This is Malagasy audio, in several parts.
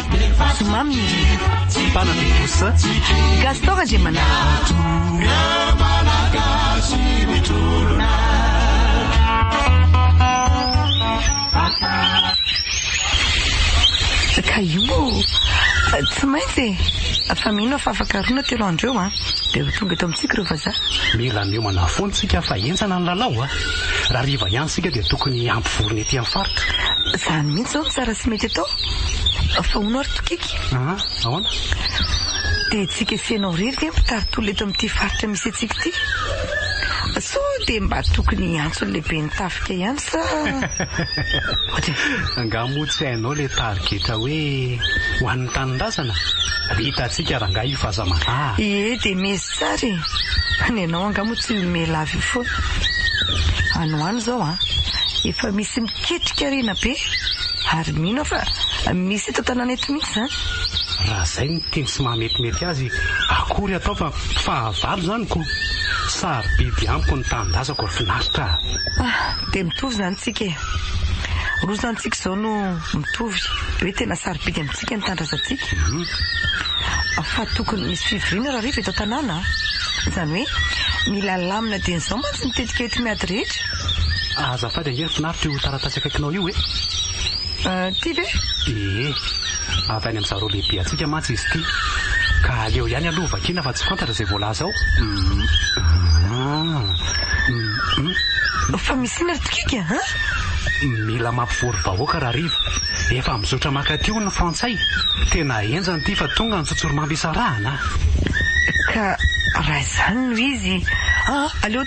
Tsy mamy ny rivotra. Bana be kosa. Gaston Randriamanana. Ka io tsy maintsy e! Fa mino aho fa afa-karoana telo andro eo an! Dia ho tonga eto amintsika ireo vazaha. Mila miomana foana isika fa henjana ny lalao a! Raha hariva ihany isika dia tokony hampivorona ety amin'ny faritra. Izany mihitsy izao no tsara sy mety atao. Fa hono ary Tokiky? Aa ahoana? Dia tsika esenao irery ve mpitaritola eto amin'ity faritra misy antsika ity? Sa dia mba tokony hiantso ny lehiben'ny tafika ihany sa ohatran'izany? Angaha moa tsy hainao ilay tarigetra hoe ho an'ny tanindrazana? Hitantsika rangahy io fa aza maraha. Ie dia miezy tsara e! Ny anao angaha moa tsy miha lava eo foana? Any ho any izao an! Efa misy. Ketrika rena be ary mino aho fa misy eto an-tanàna eto mihitsy izany. Raha izay no tiany sy mahametimety azy, akory atao fa fahavalo izany ko! Sarobidy amiko ny tanindrazako ry finaritra a! Ah, dia mitovy izany tsika e! Rozantsika izao no mitovy hoe tena sarobidy amintsika ny tandrazantsika fa tokony misy fivoriana rahariva eto an-tanàna a! Izany hoe mila lamina dieny izao mantsy ny tetika ety miady rehetra e! Azafady ange ry finaritra io taratasy akaikinao io e! Ty ve? Ee, avy any amin'izareo lehibe antsika mantsy izy ity. Ka aleo ihany aloha vakiana fa tsy fantatra izay voalaza ao. Fa misy inona ry Tokika an? Mila mampivory vahoaka rahariva. Efa mizotra mankaty hono ny frantsay. Tena henjana ity fa tonga ny tsotsorimamy hisarahana a! Ka raha izany no izy an! Aleo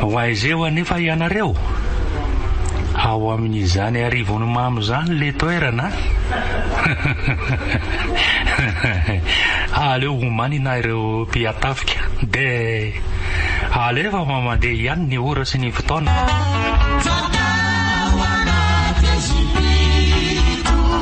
Ho aiza eo anefa ianareo? Ao amin'izany arivony mamo izany ilay toerana an! Aleo homanina ireo mpihatafika dia alefa fa mandeha ihany ny ora sy ny fotoana.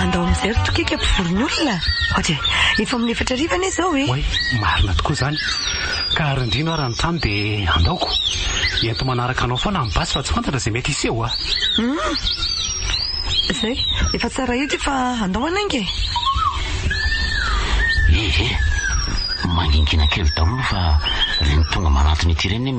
Andao mijery tokika mpivoron'olona. Ohatry e, efa amin'ny efatra hariva anie izao e! Oay, marina tokoa izany. Ka ary indrindra aho raha ny trano dia andaoko. Ento manaraka anao foana amin'ny basy fa tsy fantatra izay mety hiseho a! Hum. Izay, efa tsara io ity fa andao hanainga e! Ehe, mangingina kely daholo fa ireny tonga manantona ity ireny anie.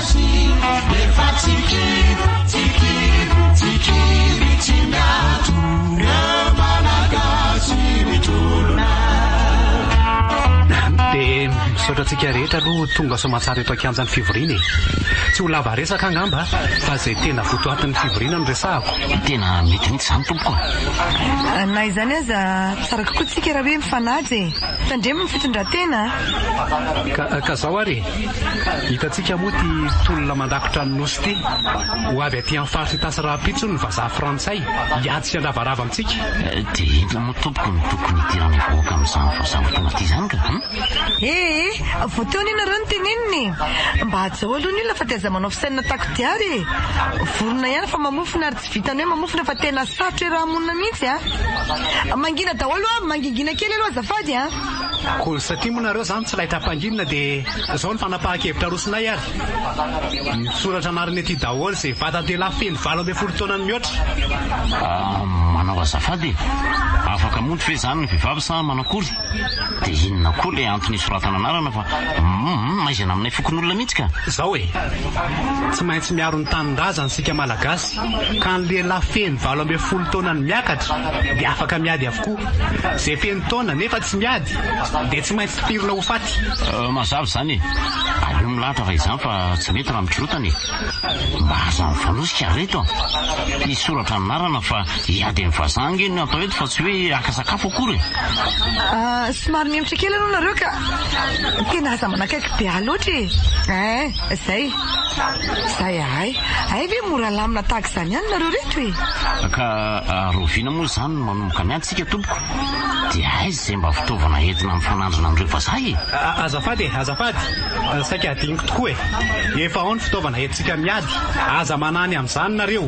Misaotra antsika rehetra aloha tonga soamantsara eto an-kianjan'ny fivoriana e. Tsy ho lava resaka angamba fa izay tena votoatin'ny fivoriana no resahako. Tena mety mihitsy izany tompoko a. Na izany aza, tsara kokoa tsika raha hoe mifanaja e. Tandremo ny fitondran-tena a. Ka izao ary e, Hitantsika moa ity tolona mandakotra ny nosy ity. Ho avy aty amin'ny faritry Itasy rahampitso ny vazaha frantsay hiady sy handravarava amintsika. Dia inona moa tompoko no tokony hidiran'ny vahoaka amin'izany vazaha ho tonga aty izany ka an? Ee, vao teo anie nareo no tenenina e! Mba hajao aloha ny olona fa dia aza manao fisainana takodia ary e! Vorona ihany fa mamofona ary tsy. Tsy vitan'ny hoe mamofona fa tena sarotra iaraha-monina mihitsy a! Mangina daholo a! Mangingina kely aloha azafady a! Koa satria moa nareo izany tsy laitra hampanginina dia izao ny fanapahan-kevitra arosonay ary misoratra anarana ety daholo izay vatan-dehilahy feno valo ambin'ny folo taona ny mihoatra. Manao azafady e! Afaka monty ve izany ny vehivavy sa manakory? Dia inona koa ilay antony isoratana anarana fa hum maizina aminay fokonolona mihitsy ka. Zao e! Tsy maintsy miaro ny tanindrazany isika Malagasy ka ny lehilahy feno valo ambin'ny folo taona ny miakatra dia afaka miady avokoa. Izay feno taona nefa tsy miady dia tsy maintsy tifirina ho faty. Mazava izany e! Aleo milahatra raha izany fa tsy mety raha mikirotana e! Mba aza mifanosika reto a! Hisy soratra anarana fa hiady amin'ny vazaha ange no atao eto fa tsy hoe haka sakafo akory e! Somary mihemotra kely aloha nareo ka! Tena aza manakaiky be ahy loatra e! Ein! Zay! Zay ahay! Hay ve mora lamina tahaka izany ihany nareo reto e! Ka rahoviana moa izany no manomboka miady? Tsika tompoko dia aiza izay mba fitaovana entina mifanandrina amin'ireo vazaha e? Azafady e, azafady, saika adinoko tokoa e! Efa ao ny fitaovana entintsika miady, aza manany amin'izany nareo.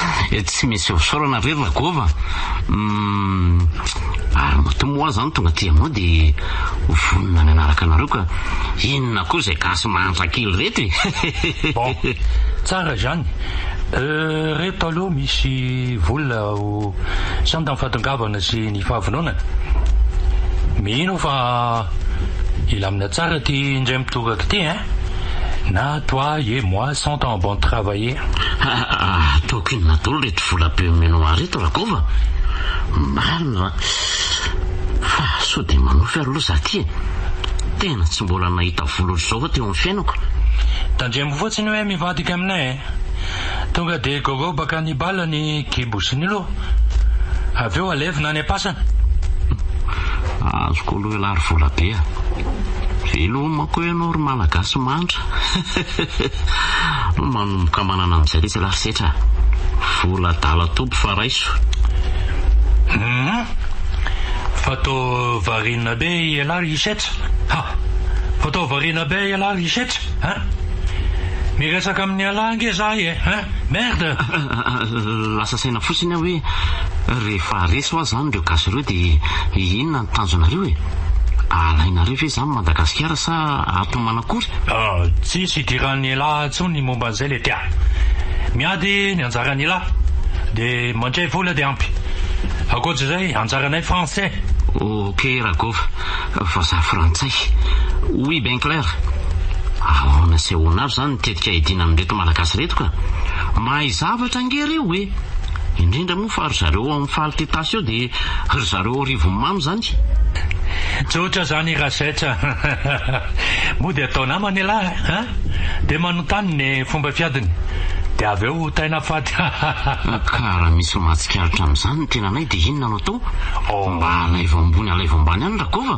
Eh tsy misy fisaorana re Ragôva uhm ary matoa moa aho zany tonga aty aminao de ho vonona mianaraka anareo ka inona koa zay gasy mahantra kely reto e. Bon, tsara izany. Euh reto aloha misy vola ho sanda amin'ny fahatongavana sy ny fahavononana. Mino aho fa hilamina tsara ity indray mitoraka ity ein! Na toi et moi Cent ans bon travailler. Haa ataoko inona dolo reto vola be omenoa ahy reto Rakova? Marina ra fa sao dia manofy ary lo za ty e! Tena tsy mbola nahita vola otrzao aho teo amin'ny fiainako. Tandremo fotsiny hoe mivadika aminay e! Tonga dia gorobaka any bala ny kibo sy ny loha, avy eo alevina any am-pasana. Azoko aloha ialahy ry volabe a! Veloma koa ianao ry Malagasy mantra. Hehe. Manomboka manana amin'izay letsy la setra. Vola adala toby fa raiso. Humm. Fa to variana be ialahy ry setra ha. Fa to variana be ialahy ry setra ha. Miresaka amin'ialahy ange za e ha. Merde. Lasa saina fotsiny aho hoe rehefa resy hoa zany ireo gasy ireo dia inona ny tanjonareo e. Alainareo ve za ny Madagasikara sa ato Manakory? Tsisy idiran'ny elah intsony ny momba an'izay le tia. Miady ny anjaran'ny elah de mandray vola de ampy. Ankoatra izay anjaranay français. Ok Ragova, vazaha frantsay. Oui Ben Clair, Ahoana sy ahoana avy izany ny tetika hiadiana amin'ireto Malagasy ireto ka? Mahay zavatra ange ireo e! Indrindra moa fa ry zareo ao amin'ny Fal Tetas eo dia ry zareo ao Rivonimamo izany e! Tsotra zany Rasex a! Moa dia atao namana ialahy a! Dia manontany ny fomba fiadiny dia avy eo ho taina fady hahahha! Ka raha misy mahatsikaritra amin'izany ny tenanay dia inona no atao? Oh! Mba alaivo ambony alaivo ambany any Rakova!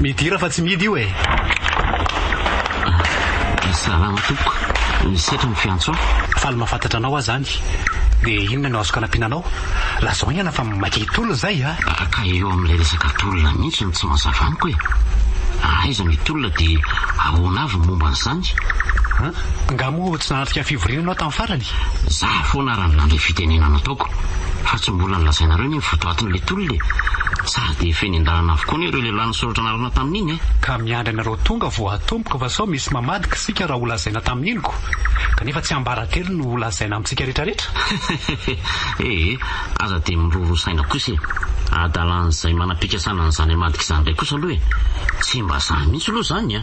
Midira fa tsy midy io e! Salama tompoko. Misaotra ny fiantso ahy. Faly mahafantatra anao aho zany. Dia inona no azoko anampiana anao? Lazao aingana fa mankeny tolona zay a! Ka eo amin'ilay resaka tolona mihitsy no tsy mazava amiko e! Aiza ny tolona dia ahoana avy ny momba an'izany? Nga moa tsy nahatrika fivoriana ianao tamin'ny farany? Za foana ary nandray fitenena nataoko fa tsy mbola nolazainareo anie ny votoatin'ilay tolona e! Sady efa eny an-dalana avokoa anie ireo lehilahy nisoratra narona tamin'iny e! Ka miandry anareo tonga vao atomboka fa sao misy mamadika isika raha holazaina tamin'iny ko! Kanefa tsy ambara-telo no holazaina amintsika retraretra! Hehe, aza dia miroro saina kosa e! Adalan'izay manam-pikasana an'izany hamadika izany indray kosa aloha e! Tsy mba za mihitsy aloha izany a!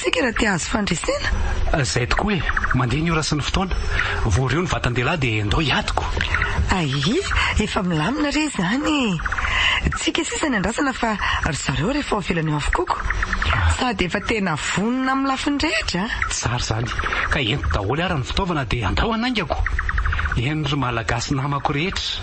Saika raha te hahazo fandresena. Izay tokoa e! Mandeha ny ora sy ny fotoana. Voario ny vatan-dehilahy dia ndao hiadiko. Ahihi, efa milamina re izany e! Tsika sisa ny andrasana fa ry zareo re efa ao ivelany ao avokoa ko! Sady efa tena vonona amin'ny lafiny rehetra a! Tsara izany! Ka ento daholo ara ny fitaovana dia ndao hanaingako! Eny ry Malagasy namako rehetra!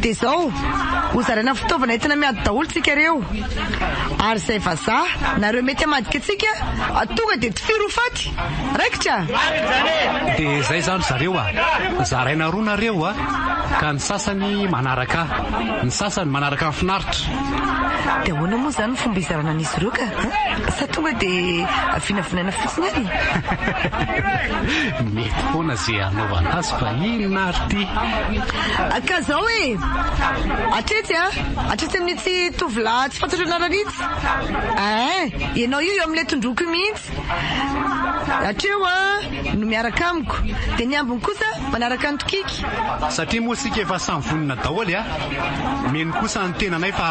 Dia izao, ho zaraina fitaovana entina miady daholo tsika reo. Ary izay vazaha na ireo mety hamadika antsika tonga dia tifiro ho faty. Raikitra! Dia izay izany ry zareo a! Zaraina roa nareo a! Ka ny sasany manaraka ahy. Ny sasany manaraka an'i Finaritra. Dia ahoana moa izany ny fomba hizarana an'izy ireo ka? Sa tonga dia vinavinaina fotsiny any e? Mety foana izay hanaovana azy fa inona ary ity? Ka zao e! Hatretsy a! Hatretsy amin'itsy tovolahy tsy fantatro anarana itsy! Eeh! Ianao io eo amin'ilay tondroiko io mihitsy! Hatreo a! no miaraka amiko! Dia ny ambiny kosa manaraka ny tokiky! Satria moa isika efa samy vonona daoly a! Mino kosa ny tenanay fa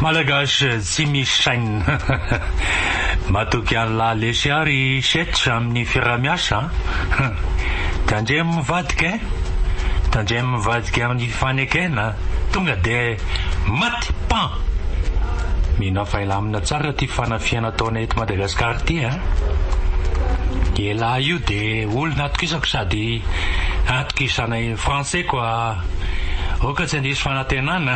Malagasy tsy misy sainina. Matoky an'lah lesy ary setra amin'ny firamiasa. Tandremo mivadika e. Tandremo mivadika amin'ny fifanekena. Tonga dia mat. Pan! Mino aho fa hilamina tsara ity fanafihana ataonay eto Madagascar ity a! Ialahy io dia olona atokisako sady atokisanay Français quoi! Oka tsy handiso fanantenana!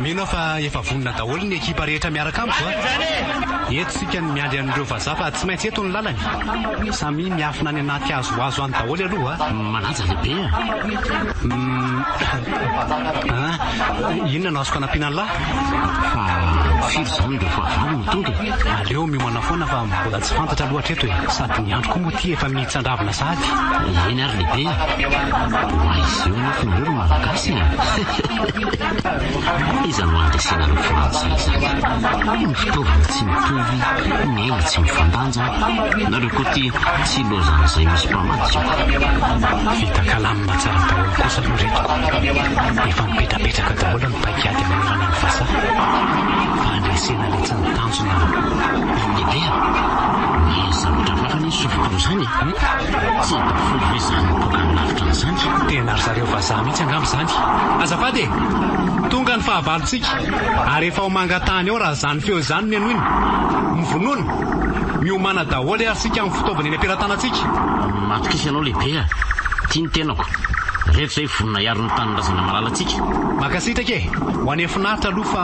Mino aho fa efa vonona daholo ny ekipa rehetra miaraka amiko a! Eto isika no miandry an'ireo vazaha fa tsy maintsy eto ny lalany. Samia miafina any anaty hazohazo any daholo aloha a! Manaja lehibe a! Uhm. Inona no azoko anampiana an'lah? Fa firy izany ireo fahavalo no tonga e? Aleo miomana foana fa mbola tsy fantatra loatra eto e! Sady ny andro koa moa ity efa mi. Tsandravina sahady eny ary lehibe a! Oay izeo anefa nareo ry malagasy a! Iza no handresena an'i Frantsa izany? Ny fitaovana tsy mitovy, ny aina tsy mifandanja, nareo koa ity tsy hilozan'izay misy mpamatsy io. Vita kalamina tsara daholo kosa aloha reto ko! Efa mipetrapetraka daholo ny paik'ady manoloana ny vazaha fa handresena letsy ny tanjona. Tena ry zareo vazaha mihitsy angamba izany. Azafady e! Tonga ny fahavalontsika ary efa ho mangatahana eo raha izany feo izany no henoina. Mivonona! Miomàna daholo ary isika amin'ny fitaovana eny am-pelatanantsika. Matokisa ianao lehibe a! Ity ny tenako. Reto izay vonona hiaro ny tanindrazana malalantsika. Mankasitraka e! Ho any finaritra aloha fa.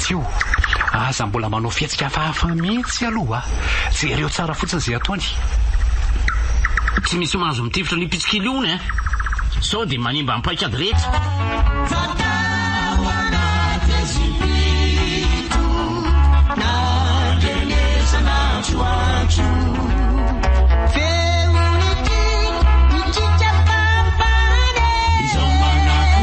Tio, aza mbola manao fihetsika hafahafa mihitsy aloha. Jereo tsara fotsiny izay ataony. Tsy misy mahazo mitifitra an'io pitsikily io hono eh! Sao dia manimba ny paikady rehetra.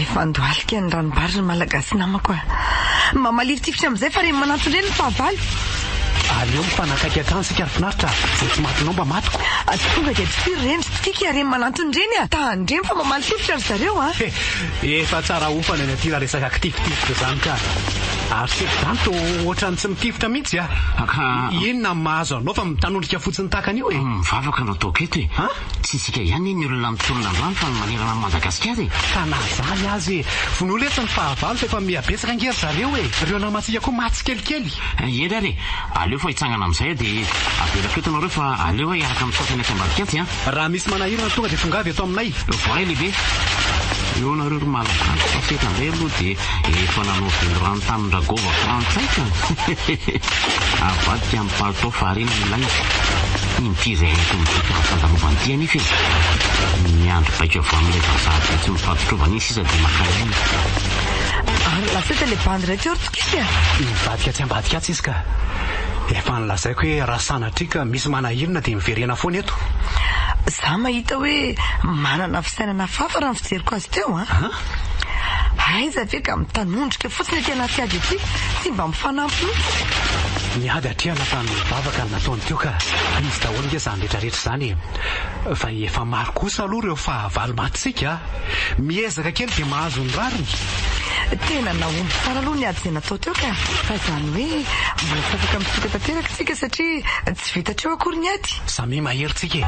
Efa andohalika ny ranombary ry Malagasy namako a! Mba maliritifitra amin'izay fa reny mananton-dreny ny fahavalo! Aleo mifanakaiky hatrany isika ry finaritra a! Izay tsy matinao mba matiko! Aza tonga dia dofir reny ry Tsikiky a! Reny mananton-dreny a! Ta handremy fa mba malitifitra ry zareo a! He! Efa tsara hofana ny aty raha resaka kitifitifitra izany ka! Ary seto izany toa ohatran'ny tsy mitifitra mihitsy a! Inona no mahazo anao fa mitanondrika fotsiny tahaka an'io e! Mivavaka no ataoko eto e! Tsy isika ihany anie ny olona mitolona androany fa ny manerana an'i Madagasikara e! Ka na izany aza e! Vonoina etsy ny fahavalo fa efa miha betsaka ange ry zareo e! Ireo namantsika koa maty tsikelikely! Hery ary e! Aleo fa hitsangana amin'izay dia avelako eto nareo fa aleo aho hiaraka amin'ny sasany aty ambadik'atsy an! Raha misy manahirana tonga dia tongava eto aminay! Voay lehibe! Eo nareo ry Malagasy fa teto indray aloha dia efa nanao velirano tamin-dRagôva frantsay ka! Avadika an! Palitao fahariana no ilaina. Inty izay mety ho midika ho fandalovana ity anefa e! Miandry baiko avy amin'ilay vazaha be tsy mifampitrovana iny sisa dia maka aina. Ary lasa ilay bandy iray teo ry Tokisy a! Mivadika atsy ambadika atsy izy ka. Efa nolazaiko hoe raha sanatria ka misy manahirana dia miverena foana eto. Za mahita hoe manana fisainana hafahafa raha ny fijeriko azy teo an! Aiza ve ka mitanondrika Fa tsy le tena tsy ady ity, tsy mba mifanampy mihitsy. Ny ady hatrehana fa ny vavaka no nataony teo ka izy daholo nge zany retraretra zany e! Fa efa maro kosa aloha reo fahavalo matintsika a! Miezaka kely de mahazo ny rariny! Tena nahomby tsara aloha ny ady zay natao teo ka! Fa zany hoe mbola tsy afaka mifoka tanteraka tsika satria tsy vita hatreo akory ny ady! Samia mahery tsika e!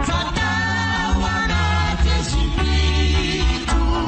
Fa tao anaty zipiko.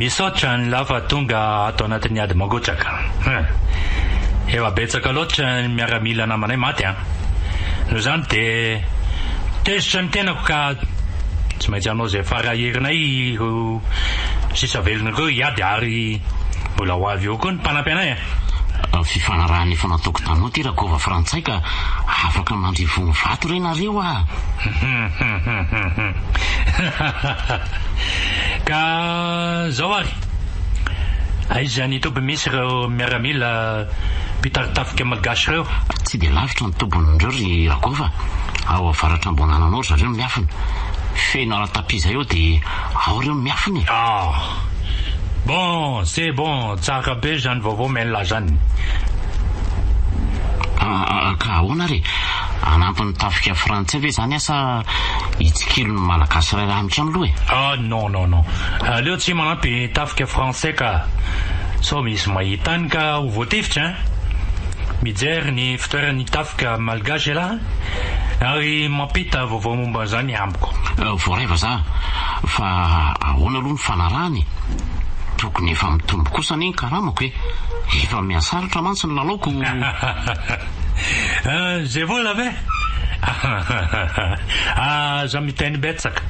Misaotra an'lah fa tonga ato anatin'ny ady mangotraka. Efa betsaka loatra ny miaramila namanay maty an. Noho izany dia tezitra ny tenako ka tsy maintsy hanao izay fara herinay ireo sisa velona ireo hiady ary Mbola ho avy eo koa ny mpanampy anay a! Amin'ny fifanarahana efa nataoko taminao ty Rakova frantsay ka afaka mandry vono vato re nareo a! Ka zao ary, aiza ny toby misy ireo miaramila mpitari-tafika malgache ireo? Tsy dia lavitra ny tobin'ireo ry Rakova, ao avaratr'Amboananana ao ry zareo no miafina. Feno ara-tapia izay ao dia ao ireo no miafina e! Bon c'est bon tsara be zany vaovao mella zany. Ka ahoana ary e? Hanampin'ny tafika frantsay ve zany asa hitsikilo ny malagasy iray lahy mitrano loha e? Ah non non non aleo tsy manampy tafika frantsay ka sao misy mahita any ka ho voatifitra hein! Mijery ny fitoeran'ny tafika malgache ialahy a! Ary mampita vaovao momba an'izany amiko. Voaraiva za. Fa ahoana aloha ny fanarahana e? Tokony efa mitombo kosa anie ny karamako e! Efa mihasarotra mantsy ny lalaoko. Izay vola ve? Aza miteny betsaka.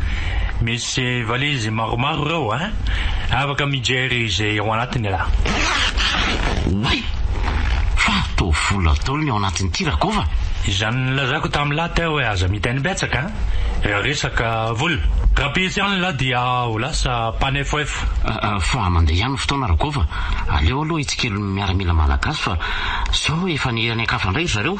Ze valizy maromaro reo a! Afaka mijery ze ao anatiny ra. Oay! Fa toa vola dolo ny ao anatin'ity Rakova! Izany nilazako tam la teo hoe aza miteny betsaka raha resaka vola. Raha pitsy any la dia ho lasa mpanefoefo. Fa mandeha ihany ny fotoana Rakova, aleo aloha hitsikilo ny miaramila malagasy fa zao efa ny any an-kafa ndray ry zareo.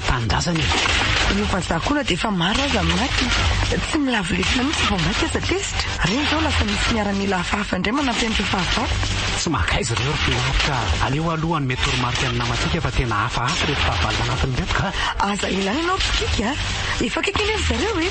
tanindrazana e. Io vazaha koa na dia efa maro aza ny maty, tsy milavo lesona mihitsy vao maika aza tezitra. Reny izao lasa misy miaramila hafahafa indray manampy an'ireo fahavalo. Tsy mahakaiza ireo ry mpinahitra a! Aleo aloha hanome toromarika ny namantsika fa tena hafahafa ireto fahavalo manatona ireto ka! Aza elana ianao ry Kiky a! Efa akaiky anie ry zareo e!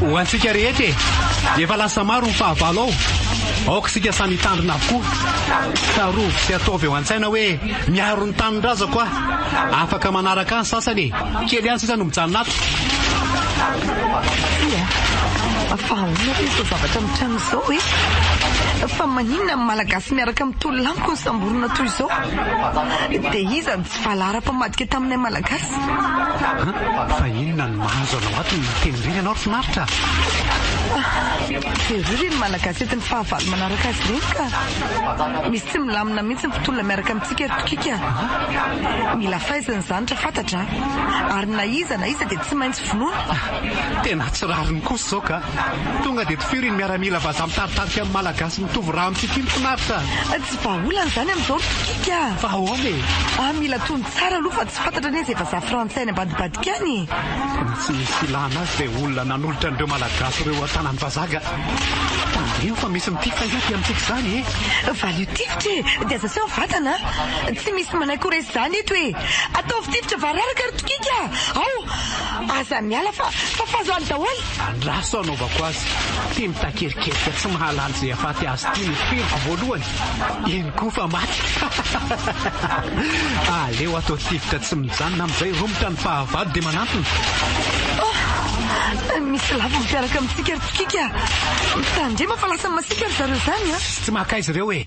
Ho antsika rehetra e! Efa lasa maro ny fahavalo ao. Aoka isika samy hitandrina avokoa. Tsarovy sy ataovy eo an-tsaina hoe miaro ny tanindrazako aho. Afaka manaraka ahy ny sasany e! Kely ihany sisa no mijanona ato. Tsia a! Fa ahoana koa izao zavatra mitranga izao? Zao hoe fa maninona ny malagasy miaraka amin'ny tololamiko no samborina toy izao? Dia iza no tsy valahara mpamadika taminay malagasy? An, fa inona no mahazo anao ato ny miteny ireny ianao ry finaritra a! Jereo re ny malagasy entin'ny fahavalo manaraka azy ireny ka! Misy tsy milamina mihitsy ny mpitolona miaraka amintsika ry tokiko a! Mila faizina izany raha fantatra a! Ary na iza na iza dia tsy maintsy vonoina! Tena tsy rariny kosa izao ka! Tonga dia tifiro iny miaramila vazaha mitady tarika amin'ny Malagasy mitovy rà amintsika iny finaritra a! Tsy vahaolana izany amin'izao ry Tokiky a! Fa ahoana e? A Mila tony tsara aloha fa tsy fantatra anie izay vazaha frantsay any ambadibadika any e! Ny tsy misy ilàna azy dia olona nanolotra an'ireo Malagasy ireo an-tanan'ny vazaha ga! Tandremo fa misy mitifitra ahiahy aty amintsika izany e! Valio tifitra e! Dia aza aseho ny vatana a! Tsy misy manaiky ho resy izany eto e! Ataovy tifitra vararaka ry Tokiky a! Ao! Aza miala fa fa fahazoany daholo! Andraso hanaovako azy. Teny takerikerika tsy mahalala izay hahafaty azy ity no feriko voalohany. Eny koa fa maty. Aleo atao tifitra tsy mijanona amin'izay romotra ny fahavalo dia manantona. Oh! Misy lavo miaraka amintsika ry Tsikika. Mitandrema fa lasa masiaka ry zareo izany an! Tsy maka azy ireo e!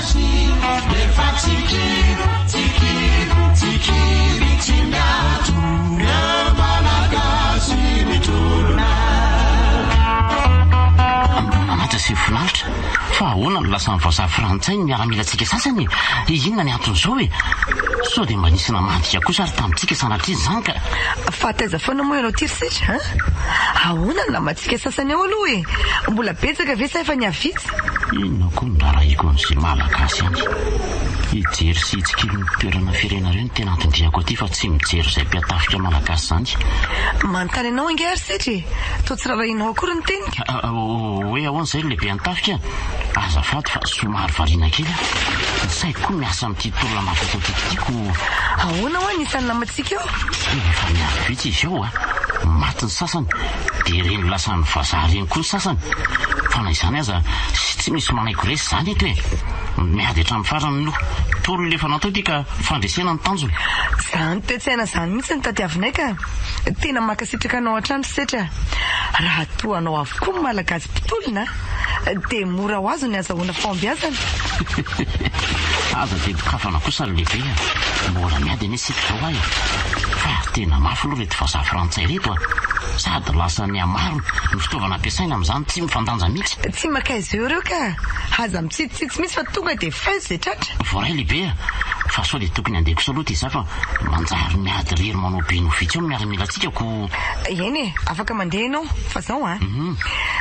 Mananatra sy finaritra? Fa ahoana no lasan'ny vazaha frantsay ny miaramilantsika sasany e? Inona ny anton'izao e? Sao dia mba nisy namadika kosa ary tamintsika sanatria izany ka? Fa taiza foana moa ianao ity ry Sitr a? Ahoana ny namantsika sasany ao aloha e? Mbola betsaka ve sa efa nihavitsy? Inona koa no rarahiko amin'izay Malagasy any? Hijery sy hitsikilo ny toerana firena ireo no tena anton-diako aty fa tsy mijery izay mpiatafika Malagasy izany. Manontany anao ange ary setra e! Toa tsy rarahinao akory ny teniko? Hoe ahoana izay ry lehibe an-tafika? Azafady fa somary variana kely aho. Ny saiko koa miasa amin'ity tolona makokotiako ity koa. Ahoana ho'a ny isan'ny namantsika eo? Efa miandry vitsy izy eo ho'a. Maty ny sasany. dia ireny lasan'ny vazaha ireny koa ny sasany fa na izany aza tsy misy manaiky ho resy izany eto e! miady hatramin'ny farany no tolona efa natao ity ka fandresena ny tanjona. Zany toetsaina zany mihitsy no tadiavinay ka! Tena mankasitraka anao hatrany Setra a! Raha toa anao avokoa ny Malagasy mpitolona dia mora ho azo ny hazahoana fahombiazana. Aza dia dokafana kosa ry lehibe a! Mbola miady anie isika. Tsy tao aho e! Fa tena mafy aloha ireto vazaha frantsay ireto a! Sady lasa nihamaro ny fitaovana ampiasaina amin'izany tsy mifandanja mihitsy. Tsy makaiza eo reo ka! Aza mitsitsitsitsy mihitsy fa tonga dia feu zay tratra! Voaray lehibe a! Fa sao dia tokony handeha kosa aloha ity za fa manjary miady irery manao be no vitsy eo ny miaramilantsika koa! Eny e! Afaka mandeha ianao fa zao a!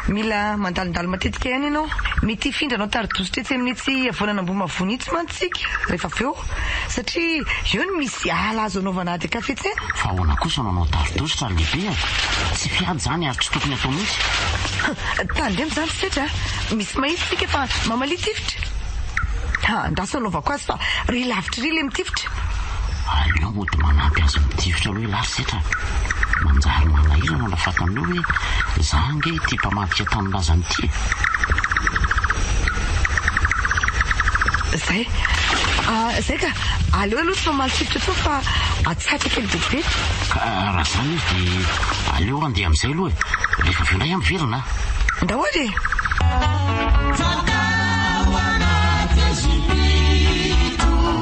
Mila mandalondalo matetika ihany ianao. Mety hifindra anao tari-dozotra etsy amin'itsy havoanan'Ambohimavoana itsy mantsy. tsika rehefa avy eo satria eo no misy ala azo anaovana ady an-kafetsena. Fa ahoana kosa no hanao dardositra ry lehibe a! Tsy mpiady izany ary tsy tokony hatao mihitsy. Hum, tandremo izany ry setra a! Misy mahitsy tsika fa mamalia tifitra. Ha, andraso hanaovako azy fa ry lavitra ry ilay mitifitra. Aleo mody manampy azy mitifitra aloha isika. Lars Zetra, Manjary manahirana raha fantanao hoe izaho ange ity mpamadika tanindrazana ity e! Izay. Izay ka! Aleo aloha tsy mamaly sifotra intsony fa atsatoka kely betibetika. Ka raha izany izy dia aleo handeha amin'izay aloha e! Rehefa avy eo indray aho miverina a! Daholo e!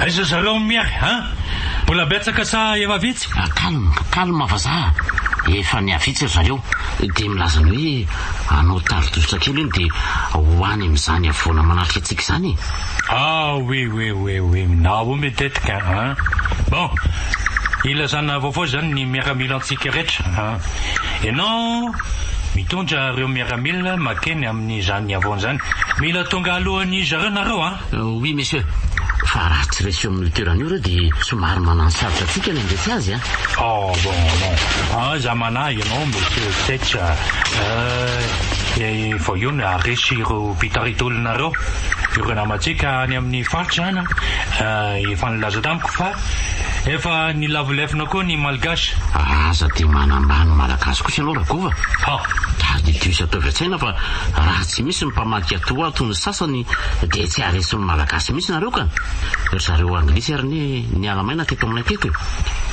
Aiza zareo miahy an! Mbola betsaka sa efa vitsy? Calme, calme vazaha, efa nihavitsy ry zareo dia milaza ny hoe hanao tari-dositra kely hono dia ho any amin'izany havoana manatrika antsika izany e! Ah oui oui oui oui nahoa mitetika an! Bon, ilazana vaovao izany ny miaramilantsika rehetra an! Ianao mitondra ireo miaramila makeny amin'izany havoana izany. Mila tonga alohan'izy ireo nareo an! Oui monsieur. Fa raha tsy resy eo amin'io toerana io ireo dia somary mananosarotra antsika ny handresy azy an! Oh bon bon. Aza manahy ianao monsieur Fetch a! Eh, vao io no haharesy ireo mpitarika olonareo. Ireo namantsika any amin'ny faritra an! efa nilaza tamiko fa. Efa nilavo lefona koa ny malgache. Aza te manambany ny malagasy kosa ianao Ragova a! Gary de Dieu sy ataovy an-tsaina fa raha tsy misy ny mpamadika atoa toy ny sasany dia tsy haharesy ny malagasy mihitsy nareo ka! Ry zareo anglisy ary anie niala maina teto aminay teto e!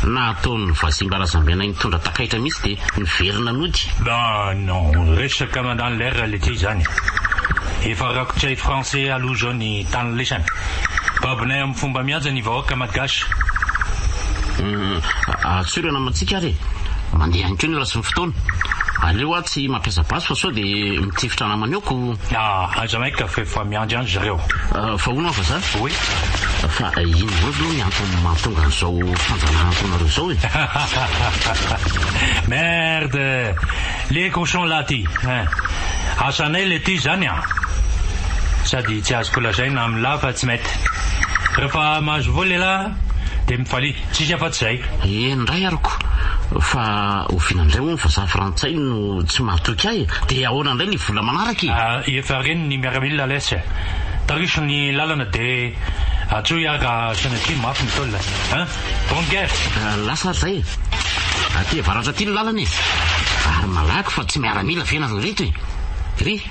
Nahataon'ny vazimba razambenay nitondra takaitra mihitsy dia niverina nody. Ah non, resaka mandany lera letia izany. Efa rakotr'ay français aloha izao ny tany lesany. Babonay am. Fomba mihaja ny vahoaka malgache. Humm atsorana amantsika ary e! Mandeha ihany koa ny ora sy ny fotoana. Aleo aho tsy mampiasa basy fa sao dia mitifitra namany ao ko. Ah aiza may ka f'efa miandry an-dry zareo. Fa hono an vazaha. Oui. Fa inona indray aloha ny antony mahatonga an'izao fanjanahantolonareo izao e? Hahahahaha merde les cochons là ty hein! Asanay le ty zany an! Sady tsy azoko lazaina aminy lahy fa tsy mety. Rehefa mahazo voa lehilahy dia mifalia. Tsisy afa tsy izay. Eny indray ary ko! Fa oviana indray moa ny vazaha frantsay no tsy mahatoky ahy e! Dia ahoana indray ny vola manaraka e! Efa reny ny miaramila ales e! Tariso ny lalana dia atsoy aho ka sanatria mafy ny tolona hein! Bonne guerre! Lasa ary izay e! Aty avaratra aty ny lalana e! Ary malaky fa tsy miaramila ve nareo ireto e! Ry.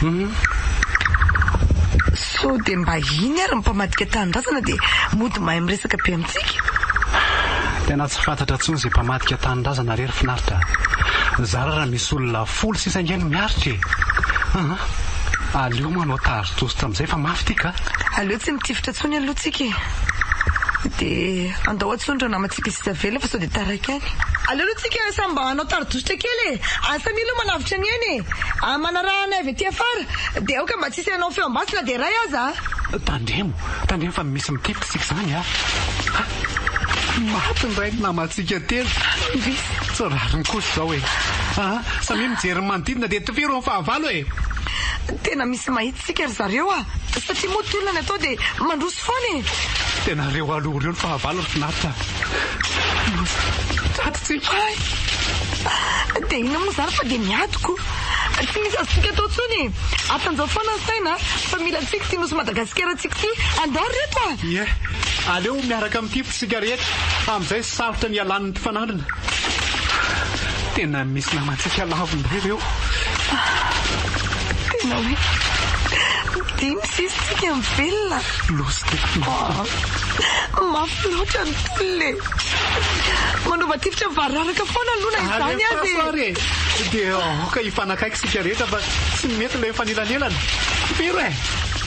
Hum sao dia mba iny ary ny mpamadika tanindrazana dia mody mahay miresaka be amintsika? Tena tsy fantatra intsony izay mpamadika tanindrazana rery finaritra a! Zara raha misy olona folo sisa ange no miaritra e! Aa! Aleo manao tary toasitra amin'izay fa mafy ity ka! Aleo tsy mitifitra intsony aloha tsika e! Dia andao atsony ry namana. Tokony tsy tavela fa sao dia taraiky any. Aleo aloha tsika samy mba hanao tari-dositra kely e! Any samia aloha manavotra ny ainy e! Ary manaraha anay avy aty afara, dia aoka mba tsisy hanao feo am-basy na dia iray aza a! Tandremo, tandremo fa misy mitetika isika izany a! Ha! Maty indray ny namantsika telo! Indrisy! Tsy rariny kosa izao e! Aa! Samia mijery ny manodidina dia tifiro ny fahavalo e! Tena misy mahitsy! Tsika ry zareo a! Satria moa tolona ny atao dia mandroso foana e! Tena reo aloha reo ny fahavalony finaritra Tato tsy hay dia inona moa izany fa dia miadoko Tsy misy azontsika atao intsony e Atanjao foana ny saina fa mila antsika ity nosy Madagasikara antsika ity Andao ry reto a! Ie, aleo miaraka amin'ity Isika rehetra amin'izay sarotra ny hialan'ny mpifanandrina. Tena misy namantsika laviny be ireo. Tena hoe dimy sisa isika mivelona. Loza dia loza. Mafy loatra ny tolona e. Manova tifitra mivararaka foana aloha na izany aza e. Alefaso ary e. Dia aoka hifanakaiky isika rehetra fa tsy mety ilay mifanelanelana. Fero e.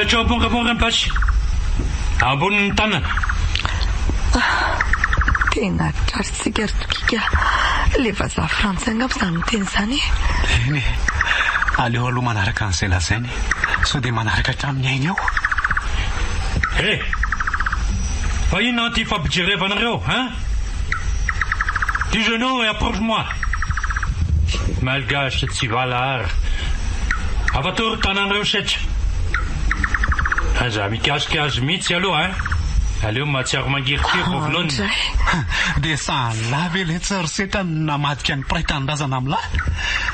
Apetraho am-pongaponga ny basy ambonin' ny tanana. Tena tratritsika ry Tokika a! Ilay vazaha frantsay angamba izany miteny izany e! Eny e! Aleo aloha manaraka an'izay lazainy e! Sao dia manaraka hatramin'ny ainy eo? He! Fa inona ity fampijerevanareo hein? Du genou et approche moi! Malgache tsy valahara! Afa tory tananareo setra! Aza mikasika azy mihitsy aloha hein! Aleo mahatsiaro mangirifiry vao vonona! Dia sahala ve ilay tsary setra namadika ny mpiray tanindrazana amin'ny lahy?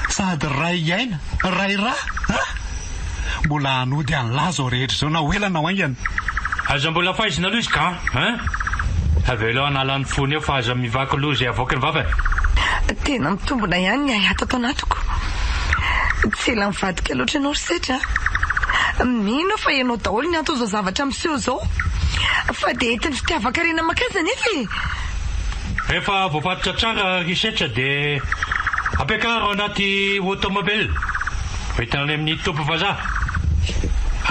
Sady ray aina Ray ra a! Mbola hanody an'lah zao rehetra zao na ho ela na ho haingana. Aza mbola faizina aloha izy ka hein! Avelao hanala ny fony eo fa aza mivaky loha izay avoaky ny vavany. Tena mitombona ihany ny ahy ato anatiko. Tsy ela mivadika loatra ianao ry Sedra a! Mino aho fa ianao daholo ny anton'izao zavatra miseho izao. Fa dia entin'ny fitiavan-karena maka azy anefa e! Rehefa voafatotra tsara ry setra dia ampiakaro anaty automobile hoentina any amin'ny toby vazaha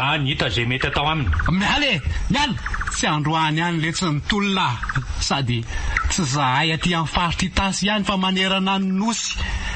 any hita izay mety atao aminy. Miala e! Miala! Tsy androany any letsy ny tolona ah! Sady tsy zahay aty amin'ny faritra Itasy ihany fa manerana ny Nosy.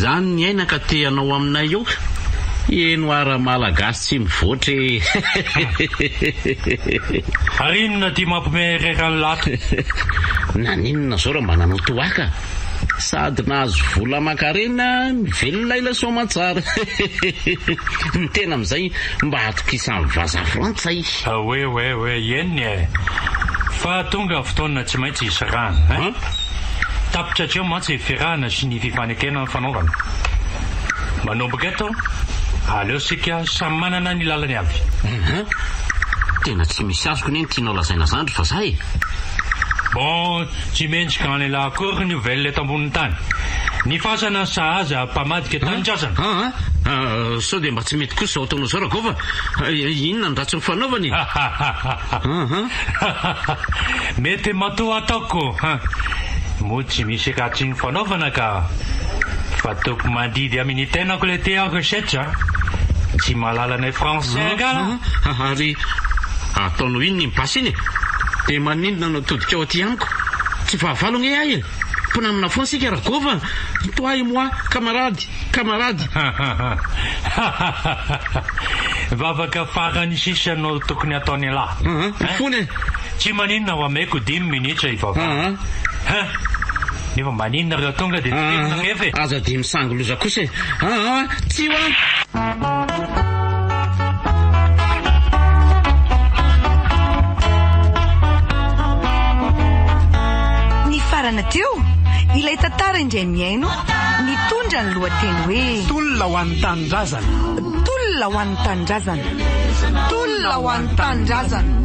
Zany ny aina ka te hanao aminay eo ka! Eny hoa ra malagasy tsy mivoatra e! Ary inona ity mampime rera an'la to? Naninona zao ra mba nanao toaka? Sady nahazo vola aman-karena no velona ilay soamantsara. Ny tena amin'izay mba atokisan'ny vazaha frantsay. Oe oe oe ieny eh! Fa tonga ny fotoana tsy maintsy hisy rano eh! Tapitra hatreo mantsy ny firahana sy ny fifanekena nifanaovana. Manomboka eto, aleo isika samy manana ny lalany avy. Eeh! Tena tsy misy azoko anie ny tianao lazaina zany ry vazaha eh! Bon, Tsy mendrika an'elah akory ny ho velona eto ambonin'ny tany. Ny fasana sahaza mpamadika tanin-trazana. Ah ah ah! Sao dia mba tsy mety kosa izao ataonao izao Ragôva? Inona ny ratsy nifanaovana e? Ha ha ha! Mety matoa ataoko ha! Moa tsy misy ratsy nifanaovana ka! Fa toko mandidy amin'ny tenako le te aho resetra a! Tsy mahalala anay Français angaha? Ary ataonao inona iny basy iny e? Dia maninona anao? Mitodika aty amiko tsy fahavalo ange ahy e! Mpinamana foana isika Ragôva a! Ito ahy moi kamarady, kamarady! Vavaka farany sisa no tokony ataon'ialahy an! Fony e! Tsy maninona ho ameko dimy minitra hivavahana an! Nefa mba nino nareo tonga dia tsy tiko nangefy e! Aza dia misangy loza kosa e! An an! Tsy ho an! Nifarana teo, ilay tantara indray mihaino, nitondra ny lohateny hoe. Tolona ho an'ny Tanindrazana! Tolona ho an'ny Tanindrazana! Tolona ho an'ny Tanindrazana!